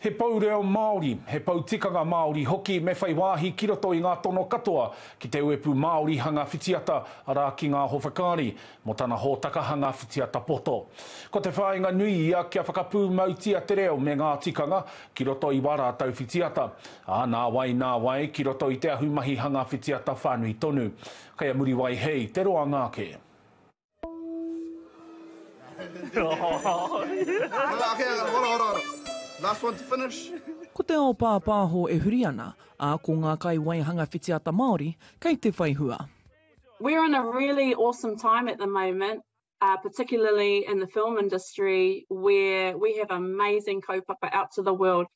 He pou reo Māori, he pou tikanga Māori hoki me whai wāhi ki roto i ngā tono katoa ki te uepū Māori hanga whitiata, arā ki ngā howhakaari, mō tana hōtaka hanga whitiata poto. Ko te whāinga nui ia kia whakapūmautia te reo me ngā tikanga ki roto i wā rātou whitiata, ā, nāwai nāwai ki roto i te ahumahi hanga whitiata whānui tonu. Kei a Muriwai Hei te roanga ake. Ko te ao pāpāho e huri ana, ā, ko ngā kaiwaihanga whitiata Māori kei te whai hua. We're in a really awesome time at the moment, particularly in the film industry where we have amazing kaupapa out to the world.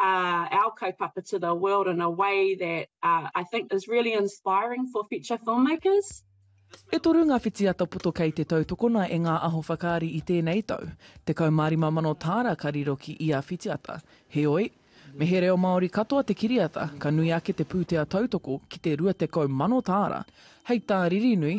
uh, our kaupapa to the world in a way that uh, I think is really inspiring for future filmmakers. E toru ngā whitiata poto kei te tautokona e ngā aho whakaari i tēnei tau. Te kaumārima mano tāra ka riro ki ia whitiata. Heoi, me he reo Māori katoa te kiriata, ka nui ake te pūtea tautoko ki te rua tekau mano tāra. Hei tā Ririnui,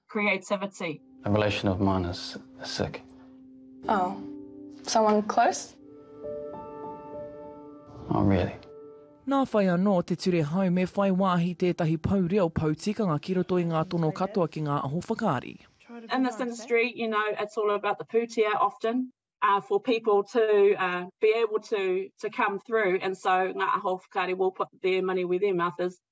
creativity. A relation of mine is sick. Oh. Someone close? Not really. Nā whai anō te ture hau me whai wāhi tētahi pou reo, pou tikanga ki roto i ngā tono katoa ki ngā aho whakaari. In this industry, you know, it's all about the pūtea often uh, for people to uh, be able to to come through and so ngā aho whakaari will put their money where their mouth is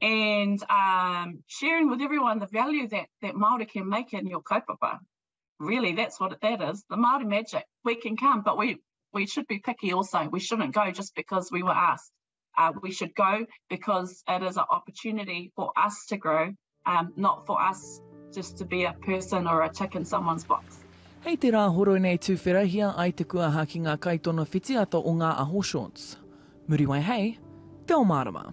and um, sharing with everyone the value that, that Māori can make in your kaupapa. Really, that's what that is, the Māori magic. We can come, but we, we should be picky also. We shouldn't go just because we were asked. Uh, we should go because it is an opportunity for us to grow, um, not for us just to be a person or a tick in someone's box. Hei te rā horoi nei tūwherahia ai te kuaha ki ngā kaitono whitiata o ngā aho shorts. Muriwai hei, te o mārama.